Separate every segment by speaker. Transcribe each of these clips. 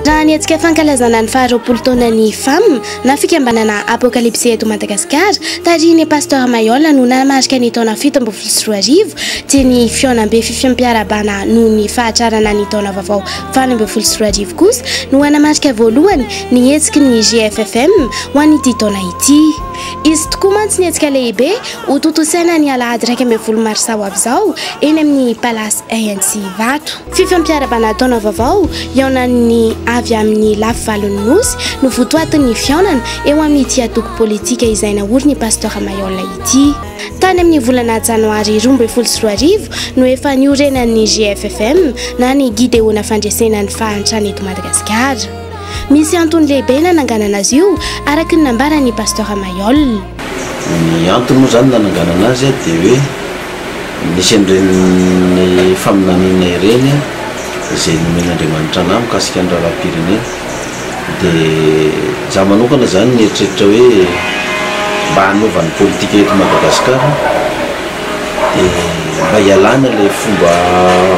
Speaker 1: Raha ny hetsika fankalazana ny faha roapolo taonan'ny Fam na fikambanana Apokalipsy eto Madagasikara, tarihin'i Pasteur Mayolle no nanamarika ny taona fito ambin'ny folo sy roa arivo, dia ny fihaonambe fifiham-piarahabana noho ny fahatrarana ny taona vaovao valo ambin'ny folo sy roa arivo kosa no hanamarika voalohany ny hetsiky ny GFFM ho an'ity taona ity. Izy tokoa mantsy ny hetsika lehibe Ho tontosaina ny alahady iraika ambin'ny folo marsa ho avy izao eny amin'ny Palace ANC Ivato. Fifampiarabana taona vaovao hihaonan'ny avy amin'ny lafy valon'ny Nosy no votoatin'ny fihaonana eo amin'ity antoko politika izay naorin'i Pasteur Maihol ity. Tany amin'ny volana janoary roa ambin'ny folo sy roa arivo no efa niorenan'ny GFFM na ny Gideona Fandresena ny Fahantrana eto Madagasikara. Misy antony lehibe nananganana azy io, araka ny nambaran'i Pasteur Mayol. Ny
Speaker 2: antony moa izany nananganana azy dia hoe nisy an'ireny faminaniana ireny izay nomen'Andriamanitra anah mikasika ny raharaham-pirenena. Dia izaho manokana izany nieritreritra hoe mba hanova ny politika eto Madagasikara. dia mba hialana ilay fomba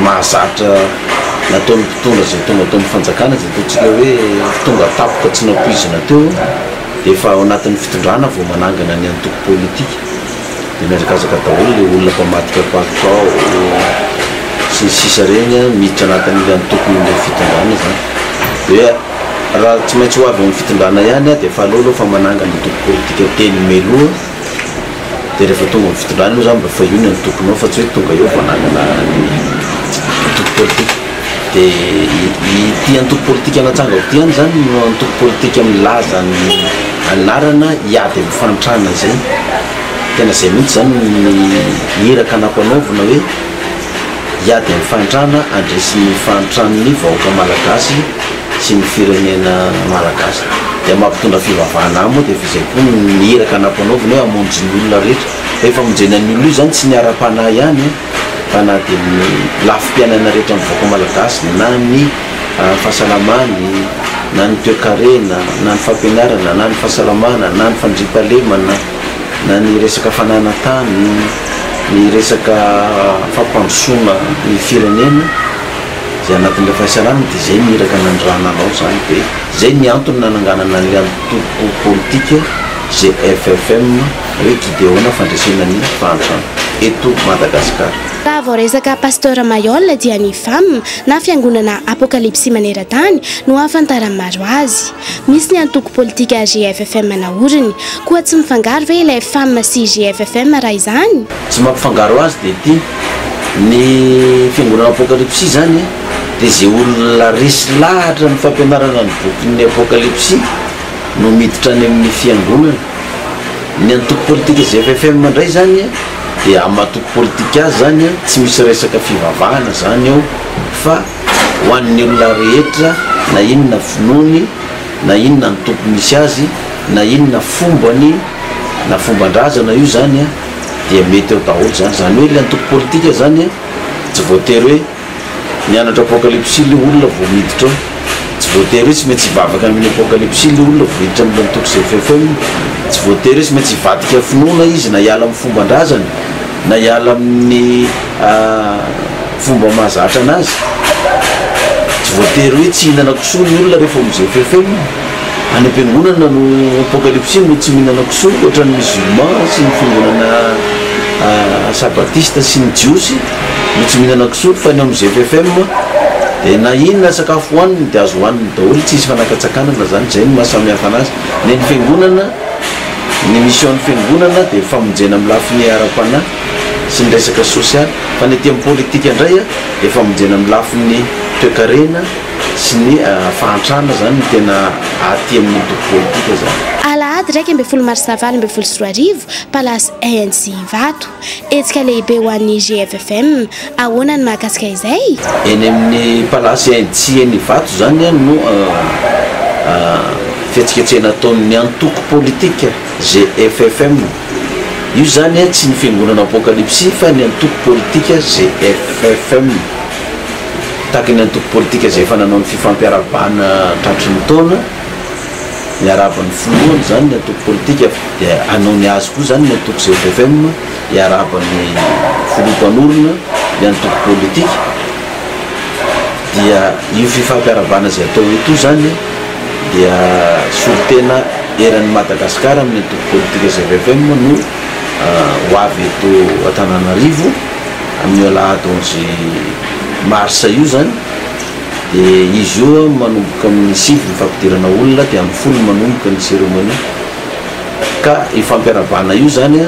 Speaker 2: mahazatra nataon'ny mpitondra izay tonga teo amin'ny fanjakana izay ataontsika hoe tonga tampoka tsy nampoizina teo eo dia efa ao anatin'ny fitondrana vao manangana ny antoko politika dia mihazakazaka daholo ilay olona mpamadika palitao sy ny sisa ireny an, miditra anatin'ilay antokon'ilay fitondrana izany dia raha tsy maintsy ho avy ao amin'ny fitondrana ihany an dia efa aleo aloha fa manangana antoko politika telo mialoha dia rehefa tonga amin'ny fitondrana eo zany mba fa io ny antokonao fa tsy hoe tonga eo vao hanangana ny antoko politika dia ity antoko politika natsangako ity ihany zany no antoko politika milaza ny anarana hiady amin'ny fahantrana izay tena izay mihitsy zany ny iraka nampanaovina hoe hiady amin'ny fahantrana handresy ny fahantran'ny vahoaka malagasy sy ny firenena malagasy dia mampitondra fivavahana aminy dia f'izay koa ny iraka nampanaoviny hoe hamonjy ny olona rehetra fa io famonjena ny olona io zany tsy ny ara-panahy ihany an fa na dia ny lafim-piainana rehetra ny vahoaka malagasy na ny fahasalamany na ny toekarena na ny fampianarana na ny fahasalamana na ny fandriampahalemana na ny resaka fananan-tany ny resaka fampandrosoana ny firenena izay anatin'ilay fahaisarahana dia izay ny iraka nanirahana anao izany dia izay ny antony nananganana an'ilay antoko politika GFFM hoe Gideona fandresena ny fahantrana eto Madagasikara. Raha vao resaka
Speaker 1: Pasteur Mayol dia ny fam na fiangonana Apokalipsy maneran-tany no ahafantaran'ny maro azy. Misy ny antoko politika GFFM naoriny. Koa tsy mifangaro ve ilay fam sy GFFM raha izany? Tsy mampifangaro
Speaker 2: azy dia ity, ny fiangonana Apokalypsy izany dia izay olona resy lahatra ny fampianarana ny bokin'ny Apokalypsy no miditra any amin'ny fiangonana. Ny antoko politika ZFFM indray izany dia amin'ny maha toko politika azy izany tsy misy resaka fivavahana izany ao fa ho an'ny olona rehetra na inona finoany na inona antoko misy azy na inona fombany na fomban-drazana io izany dia mety eo daholo izany. Izany hoe ilay antoko politika izany an, tsy voatery hoe mianatra apocalypsy ilay olona vao miditra ao. Tsy voatery hoe tsy maintsy hivavaka amin'ny apocalypsy ilay olona vao hiditra amin'ilay antoko ZFFM. Tsy voatery hoe tsy maintsy hivadika finoana izy na hiala amin'ny fomban-drazany na hiala amin'ny fomba mahazatra anazy. Tsy voatery hoe tsy hihinana kisoa ny olona rehefa ao amin'ny ZFFM. Any am-piangonana no apokalypsy no tsy mihinana kisoa otran'ny musulman sy ny fiangonana sabatista sy ny jiosy no tsy mihinana kisoa fa ny ao amin'ny ZFFM dia na inona sakafo hohaniny dia azo hohaniny daholo tsy hisy fanakatsakanana zany izay no maha samy hafa anazy ny an'ny fiangonana ny mission ny fiangonana dia famonjena amin'ny lafiny ara-panahy sy ny resaka sosialy fa ny aty amin'ny politika indray dia famonjena amin'ny lafiny toekarena sy ny fahantrana izany no tena aty amin'ny antoko politika izany. Alahady iraika ambin'ny folo
Speaker 1: marsa valo ambin'ny folo sy roa arivo, Palace ANC Ivato. Hetsika lehibe ho an'ny GFFM. Ahoana ny mahakasika izay? Eny amin'ny
Speaker 2: Palace ANC eny Ivato izany no fihetsiketsehana ataon'ny antoko politika GFFM. Io izany tsy ny fiangonana Apokalipsy fa ny antoko politika GFFM. Tahaka ny antoko politika izay efa nanao ny fifampiarahabana tratry ny taona, ny arahaban'ny filohany izany ny antoko politika dia hanao ny azy koa izany ny antoko ZFM hiarahaban'ny filoha mpanorina ny antoko politika dia io fifampiarahabana izay atao eto io izany dia solontena eran'ny Madagasikara amin'ny antoko politika ZFM no ho avy eto Antananarivo. Amin'ny alahady onze marsa io izany dia izy io manomboka amin'ny sivy ny fampidirana olona dia amin'ny folo manomboka ny cérémonie ka io fampiarahabana io izany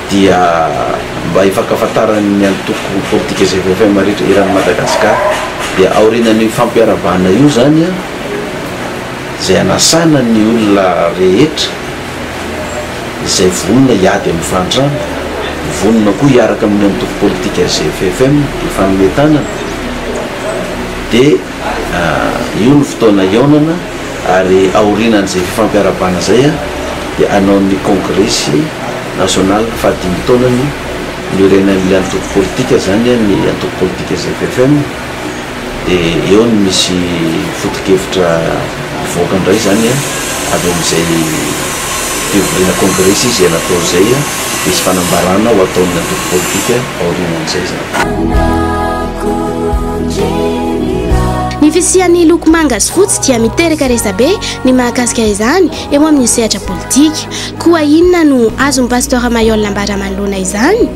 Speaker 2: dia mba hifankafantaran'ny antoko politika GVFM rehetra eran'i Madagascar dia aorianan'io fampiarahabana io izany izay anasana ny olona rehetra izay vonona hiady amin'ny fahantrana, vonona koa hiaraka amin'ny antoko politika GFFM hifanome tanana, dia io no fotoana hihaonana ary aorianan'izay fifampiarahabana izay dia hanao ny kongresy nasionaly fahadimy taonany niorenan'ny antoko politika izany ny antoko politika GFFM. dia eo no misy foto-kevitra hivoaka indray izany avy amin'izay fivoriana congrès sy izay natao izay, hisy fanambarana ho ataon'ny antoko politika aorianan'izay izany.
Speaker 1: Ny fisian'ny loko manga sy fotsy dia miteraka resabe ny mahakasika izany eo amin'ny sehatra politika. Koa inona no azon'i Pasteur Mayolle ambara manoloana izany?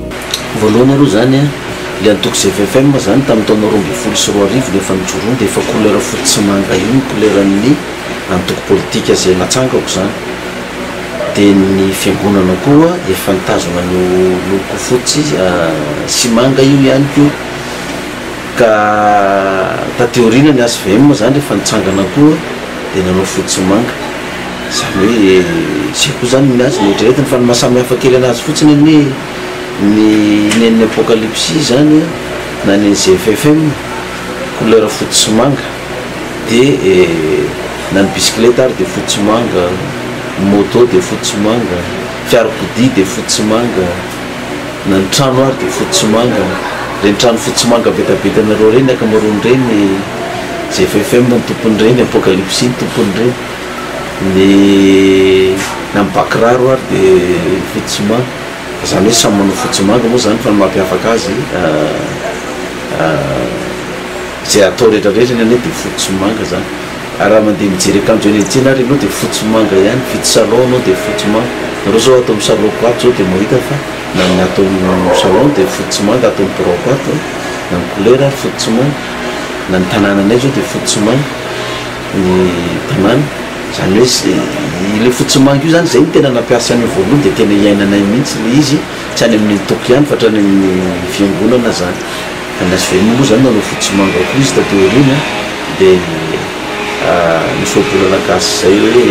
Speaker 1: Voalohany aloha
Speaker 2: izany an, ilay antoko GVFM izany tamin'ny taona roa ambin'ny folo sy roa arivo no efa nijoroany dia efa couleur fotsy sy manga io ny couleran'ny antoko politika izay natsangako izany. Dia ny fiangonana koa efa nitazona an'io loko fotsy sy manga io ihany koa. Ka taty aoriana ny HVM izany rehefa nitsangana koa dia nanao fotsy sy manga. Izany hoe izay koa izany ny azy no eritreretiny fa ny maha samihafa kely an'azy fotsiny anie. Ny nen'ny Apokalipsy izany na ny ZFFM, couleur fotsy sy manga, dia na ny bisikileta ary dia fotsy sy manga, ny moto dia fotsy sy manga, fiarakodia dia fotsy sy manga, na ny trano ary dia fotsy sy manga, ireny trano fotsy sy manga betabetanareo ireny ankamaroany ireny ZFFM ny tompon'ireny, Apokalipsy ny tompon'ireny, ny na ny bakiraro ary dia fotsy sy manga. Izany hoe samy manao fotsy manga moa izany fa ny mampiavaka azy izay atao rehetra rehetra ny anay dia fotsy sy manga izany ary raha mandeha mijery akanjo eny an-tsena ary ianao dia fotsy sy manga ihany, mividy salon ianao dia fotsy sy manga, nareo izao ato amin'ny salon-ko ato izao dia mahita fa na ny ato amin'ny salon dia fotsy sy manga, ato amin'ny biraoko ato na ny couleur ary fotsy sy manga, na ny tanananay izao dia fotsy sy manga. ny banane zany hoe sy ilay fotsy manga io zany zay no tena nampiasa an'io voalohany de tena iainanay mihitsy ilay izy tsy any amin'ny antoko ihany fa hatrany amin'ny fiangonana zany any las vegas moa zany nanao fotsy manga koa izy taty aoriana de misy ohabolana gasy zay hoe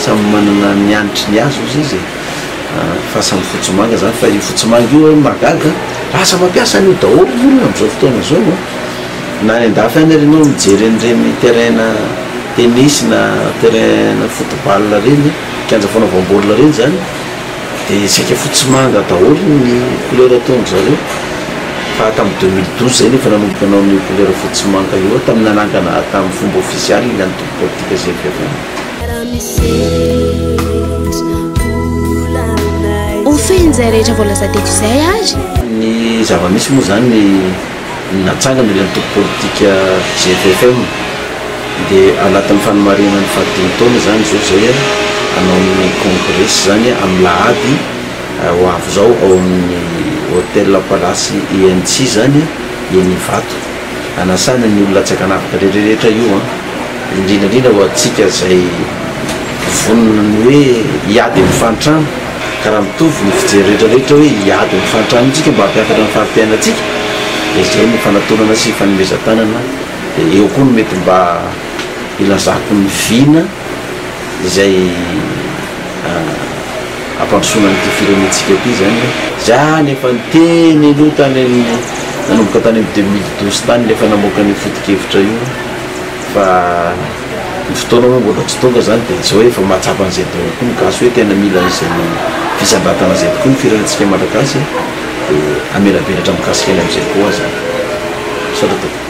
Speaker 2: samy manana ny hanitry ny azy ozy izy fa samy fotsy manga zany fa io fotsy manga io hoe mahagaga lasa mampiasa an'io daholo ny olona am'zao fotoana zao an Na any an-dafy any ary ianao mijery an'ireny terrain tennis na terrain football ireny, kianja fanaovam-baolina ireny izany dia isika fotsy sy manga daholo ny couleur ataon-dry zareo. Fa tamin'ny deux mille douze izay no efa nanomboka nanao an'io couleur fotsy sy manga io, tamin'ny nanangana azy tamin'ny fomba ofisialy ny antoko politika GFFM.
Speaker 1: Ho fehiny izay rehetra voalaza teto izay ary. Ny zava-misy
Speaker 2: moa izany. ny natsangana ilay antoko politika ZFM dia anatin'ny fanomarinana ny fahadimy taona izany izao izay hanao ny kongresy izany amin'ny lahady ho avy izao ao amin'ny Hotel Palace INC izany eny Ivato hanasana ny olona tsy ankanavaka rehetra io an! indrindra indrindra ho antsika izay vonona ny hoe hiady amin'ny fahantrana ka raha mitovy ny fijery rehetra rehetra hoe hiady amin'ny fahantrana isika mba hampiakatra ny fari-piainantsika dia izay no fanatonana sy fanomezan-tanana dia eo koa no mety mba hilazako ny vina izay hampandrosoana an'ity firenentsika ity izany hoe za nefa niteny aloha tany amin'ny nanomboka tany amin'ny deux mille douze tany ilay efa namoaka an'io foto-kevitra io Fa ny fotoana moa mbola tsy tonga izany dia tsy hoe efa mahatsapa an'izay daholo koa ny gasy hoe tena mila an'izay fisandratana izay tokoa ny firenentsika malagasy a! dia hamelabelatra mikasika ny amin'izay koa aza aho. Misaotra tompoko.